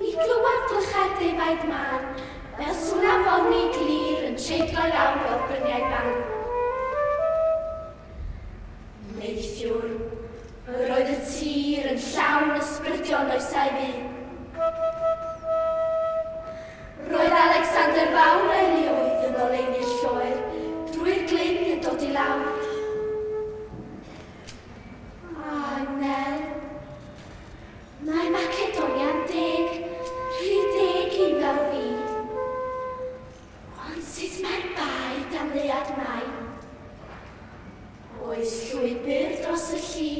Ni glywed clychau'r defaid mân, fel sŵn afonni glir yn treiglo lawr o'r bryniau ban. Neithiwr, yr oedd y tir yn llawn ysbrydion oesau fu. Roedd Alexander Fawr erioed yn oleuni'r lloer drwy'r glyn yn dod i lawr. A Nel? Mae Macedonia'n deg rhy deg i fel fi. Ond sut mae'r bae dan leuad mai? Oes llwybr dros y lli?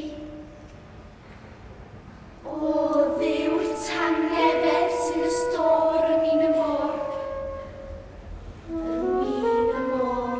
Odd yw'r tangnefedd sydd y stôr yn min y môr. Yn min y môr.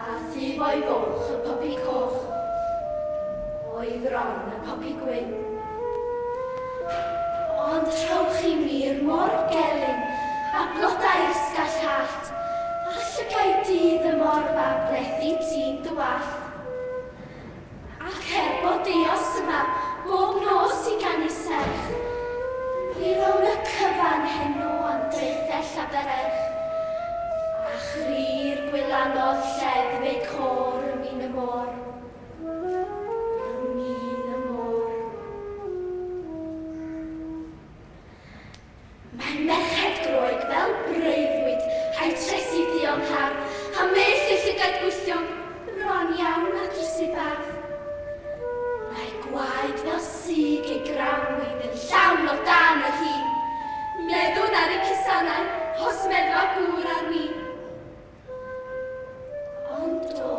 A thifoi goch y popi coch oedd ran y popi gwyn. Ond trowch i mir mor gelyn â blodau'r sgall hallt, a llygaid dydd y morfa blethu ti'n dy wallt. Ac er bod Deos yma bob nos i ganu serch, ni rown y cyfan heno am draethell a bererch, a chri'r gwylanod lleddf eu côr ym min y môr, ym min y môr. Mae merched Groeg fel breuddwyd rhai trethi duon hardd, a meill ei llygad gwylltion, bron iawn â drysy bardd. Mae gwaed fel sug ei grawnwin yn llawn o dân ei hun. Meddwn ar ei cusannau, os meddfa gŵr ar win. Ond o!